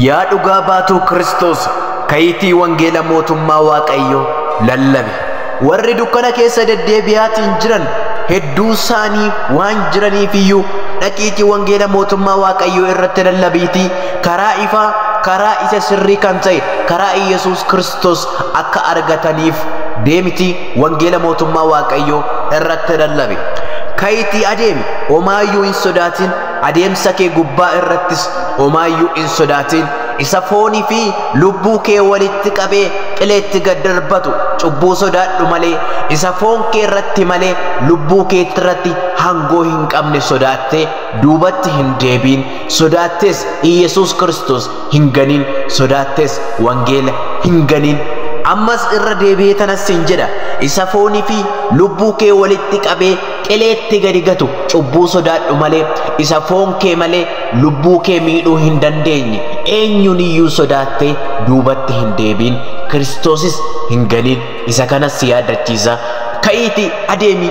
Yaa dhugaa baatuu Kiristoos ka'iitii wangeela mootummaa Waaqayyoo lallabi. Warri dukkana keessa deddeebi'aatiin jiran hedduu isaanii waan jiraniif iyyuu dhaqiitii wangeela mootummaa Waaqayyoo irratti lallabiitii karaa ifaa, karaa isa sirrii kan ta'e, karaa Iyyasuus Kiristoos Kiristoos akka argataniif deemiti wangeela mootummaa Waaqayyoo irratti lallabi. Ka'itii adeemi, omaayyuu hin sodaatin, adeemsa kee gubbaa irrattis omaayyuu hin sodaatin. Isa foonii fi lubbuu kee walitti qabee qileetti gad darbatu cubbuu sodaadhu malee isa foon kee irratti malee lubbuu kee irratti hangoo hin qabne sodaattee duubatti hin deebiin sodaattees Iyyasuus Kiristoos hin ganin sodaattes wangeela hin ganin ammas irra deebi'ee tanas sin jedha isa foonii fi lubbuu kee walitti qabee qileetti gadi gatu cubbuu sodaadhu malee isa foon kee malee lubbuu kee miidhuu hin dandeenye eenyuun iyyuu sodaattee duubatti hin deebiin kiristoosis hin ganin isa kanas si yaaddachiisa ka'iiti adeemi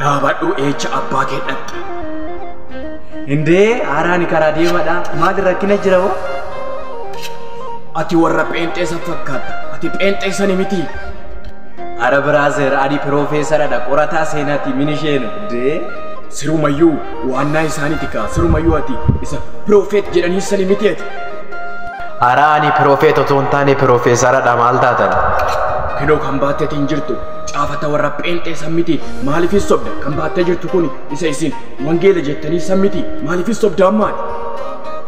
Dhaabadhu eecha abbaa kee dhaqxa. Indee haaraani karaa deemadha. Maali rakkina jira hoo? Ati warra pheenxee san fakkaatta. Ati pheenxee sani miti. Ara biraazer ani piroofeesaradha qorataa seenaati minisheenu. Dee. Sirumayyuu waannaa isaaniti kaa. Sirumayyuu ati isa piroofeet jedhanii sani miti ati. Ara ani piroofeet otoo hin taane piroofeesaradha maal taatan? Kinoo kan baatteeti hin jirtu. Caafata warra pheenxee san miti maaliifis sobda kan baattee jirtu kun isa isin wangeela jettanii san miti maaliifis sobda ammaati.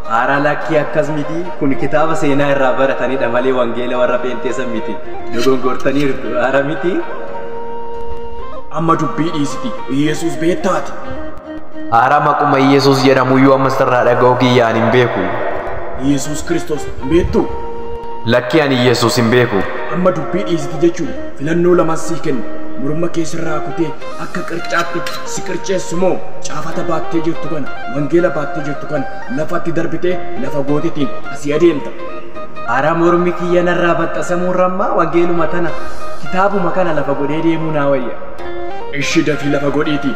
Haara lakkii akkas miti kun kitaaba seenaa irraa baratanidha malee wangeela warra pheenxee san miti dogongortaniirtu haara miti. Amma dubbii dhiisiti Iyesuus beettaati. Haara maquma Iyyasuus jedhamuyyuu amma sirraa dhaga'uu kiyyaan hin beeku. Iyyasuus Kiristoos hin beektuu? Lakkii ani Iyyasuus hin beeku. Amma dubbii dhiisiti jechuun filannoo lamaan sii kenna. Morma kee sirraa kutee akka qircaatti si qirceessu moo caafata baattee jirtu kana wangeela baattee jirtu kana lafatti darbitee lafa gootitiin asii adeemta. Haara mormi kiyya narraa baxxasamuu rammaa wangeeluma tana kitaabuma kana lafa godhee deemuu naa wayya. Ishi dafii lafa godhiitii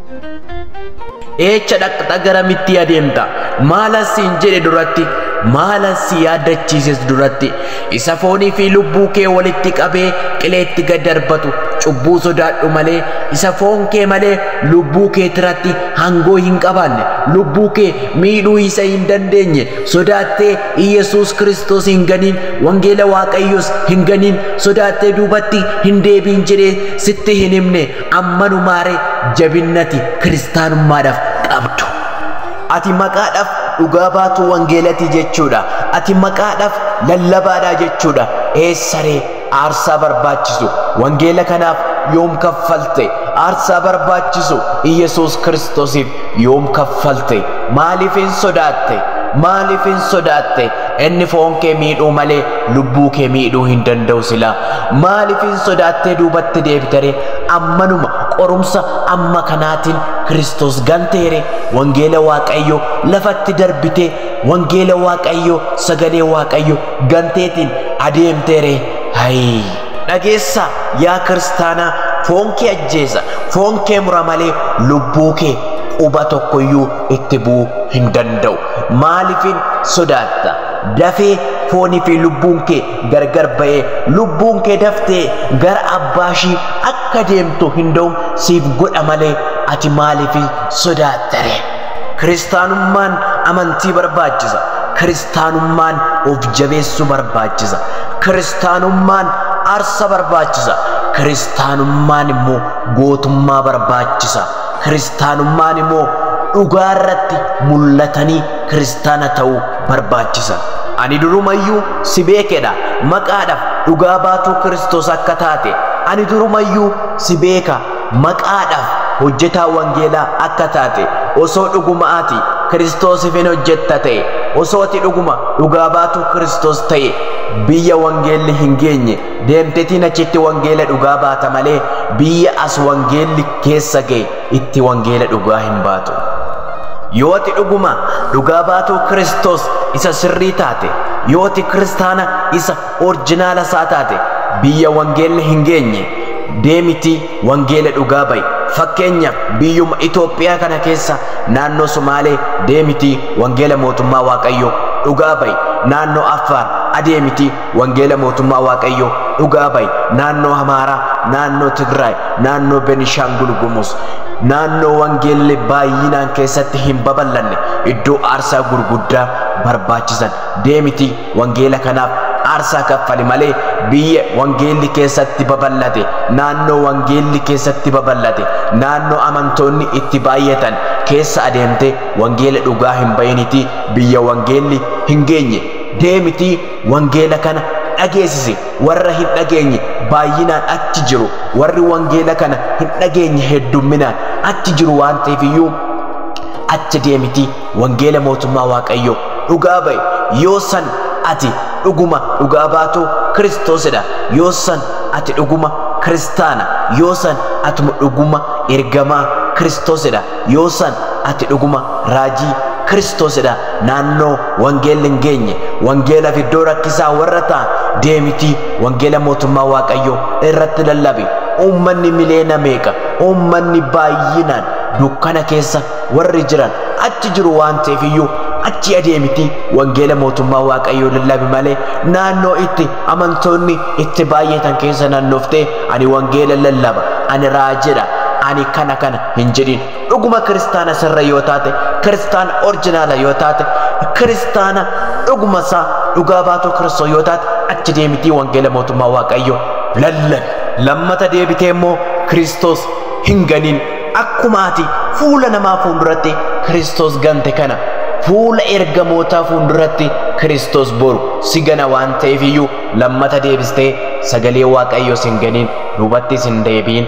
Eecha dhaqxa garamitti adeemta? Maalan siin jedhe duratti, maalan si yaaddachiises duratti, isa foonii fi lubbuu kee walitti qabee qileetti gad darbatu cubbuu sodaadhu malee, isa foon kee malee lubbuu kee tiratti hangoo hin qabaanne, lubbuu kee miidhuu isa hin dandeenye, sodaattee Iyyasuus Kiristoos hin ganiin, wangeela Waaqayyoos hin ganiin, sodaattee duubatti hin deebiin jedhee sitti hin himne, ammanumaaree jabinnati kiristaanummaadhaaf qabdu. Ati maqaadhaaf dhugaa baatuu wangeelatii jechuudha. Ati maqaadhaaf lallabaadhaa jechuudha. Eessaree aarsaa barbaachisu wangeela kanaaf yoom kaffalte? Aarsaa barbaachisu Iyyasuus Kiristoosiif yoom kaffalte? Maaliif hin sodaatte? Maaliif hin sodaatte? Inni foon kee miidhuu malee lubbuu kee miidhuu hin danda'u silaa. Maaliif hin sodaattee duubatti deebitere? Ammanuma qorumsa amma kanaatiin Kiristoos ganteere. Wangeela Waaqayyoo lafatti darbitee wangeela Waaqayyoo sagalee Waaqayyoo ganteetiin adeemteere. Hayii! Dhageessa yaa kiristaanaa foon kee ajjeesa foon kee mura malee lubbuu kee quba tokkoyyuu itti bu'uu hin danda'u. Maalifin sodaatta? Dafee foonii fi lubbuun kee gargar ba'ee lubbuun kee daftee gara abbaa ishii akka deemtu hin da'u siif godha malee ati maaliif sodaatta ree? Kiristaanummaan amantii barbaachisa. Kiristaanummaan of jabeessuu barbaachisa. Kiristaanummaan arsa barbaachisa. Kiristaanummaan immoo gootummaa barbaachisa. Kiristaanummaan immoo dhugaa irratti mul'atanii kiristaana ta'uu barbaachisa. Ani durumayyuu si beekedha. Maqaadhaaf dhugaa baatuu Kiristoos akka taate. Ani durumayyuu si beeka. Maqaadhaaf hojjetaa wangeelaa akka taate. Osoo dhuguma ati Kiristoosiif hin hojjetta ta'e. Osoo ati dhuguma dhugaa baatuu Kiristoos ta'e. Biyya wangeelli hin geenye Deemtetiin achitti wangeela dhugaa baata malee biyya as wangeelli keessa ga'e itti wangeela dhugaa hin baatu. Yoo ati dhuguma dhugaa baatuu Kiristoos isa sirrii taate, yoo ati kiristaana isa orjinaala isaa taate, biyya wangeelli hin geenye deemitii wangeela dhugaa ba'i. Fakkeenyaaf biyyuma Itoophiyaa kana keessa naannoo Sumaalee deemitii wangeela mootummaa Waaqayyoo dhugaa ba'i. Naannoo Affaar adeemitii Wangeela mootummaa Waaqayyoo dhugaa ba'i naannoo Amaaraa, naannoo Tigraay, naannoo Benishaangul Gumuz, naannoo wangeelli baay'inaan keessatti hin babal'anne iddoo aarsaa gurguddaa barbaachisan deemiti wangeela kanaaf aarsaa kaffali malee biyya wangeelli keessatti babal'ate naannoo wangeelli keessatti babal'ate naannoo amantoonni itti baay'atan keessa adeemte wangeela dhugaa hin ba'initii biyya wangeelli hin geenye deemiti Wangeela kana dhageesisi warra hin dhageenye baay'inaan achi jiru warri wangeela kana hin dhageenye heddumminaan achi jiru waan ta'eef iyyuu achi deemiti wangeela mootummaa waaqayyoo dhugaa ba'i yoo san ati dhuguma dhugaa baatuu kiristoosidha yoo san ati dhuguma kiristaana yoo san atuma dhuguma ergamaa kiristoosidha Yoo san ati dhuguma raajii, Kiristoos, dha, naannoo wangeelli hin geenye, wangeela fi iddoo rakkisaa warra ta'an deemitii wangeela mootummaa Waaqayyoo irratti lallabi. Uummanni miliyoona meeqa, uummanni baay'inaan dukkana keessa warri jiran achi jiru waan ta'eef iyyuu achi adeemitii wangeela mootummaa Waaqayyoo lallabi malee naannoo itti amantoonni itti baay'atan keessa naannooftee ani wangeela lallaba, ani raajidha, ani kana kana hin jedhin dhuguma kiristaana sirra yoo taate kiristaana orjinaala yoo taate kiristaana dhuguma isaa dhugaa baatoo kiristoo yoo taate achi deemitii wangeela mootummaa waaqayyoo lallabi lammata deebitee immoo kiristoos hin ganin akkuma ati fuula namaa fuulduratti kiristoos gante kana fuula ergamootaa fuulduratti kiristoos boru si gana waan ta'eef iyyuu lammata deebistee sagalee waaqayyoo sin ganin duubattis hin deebiin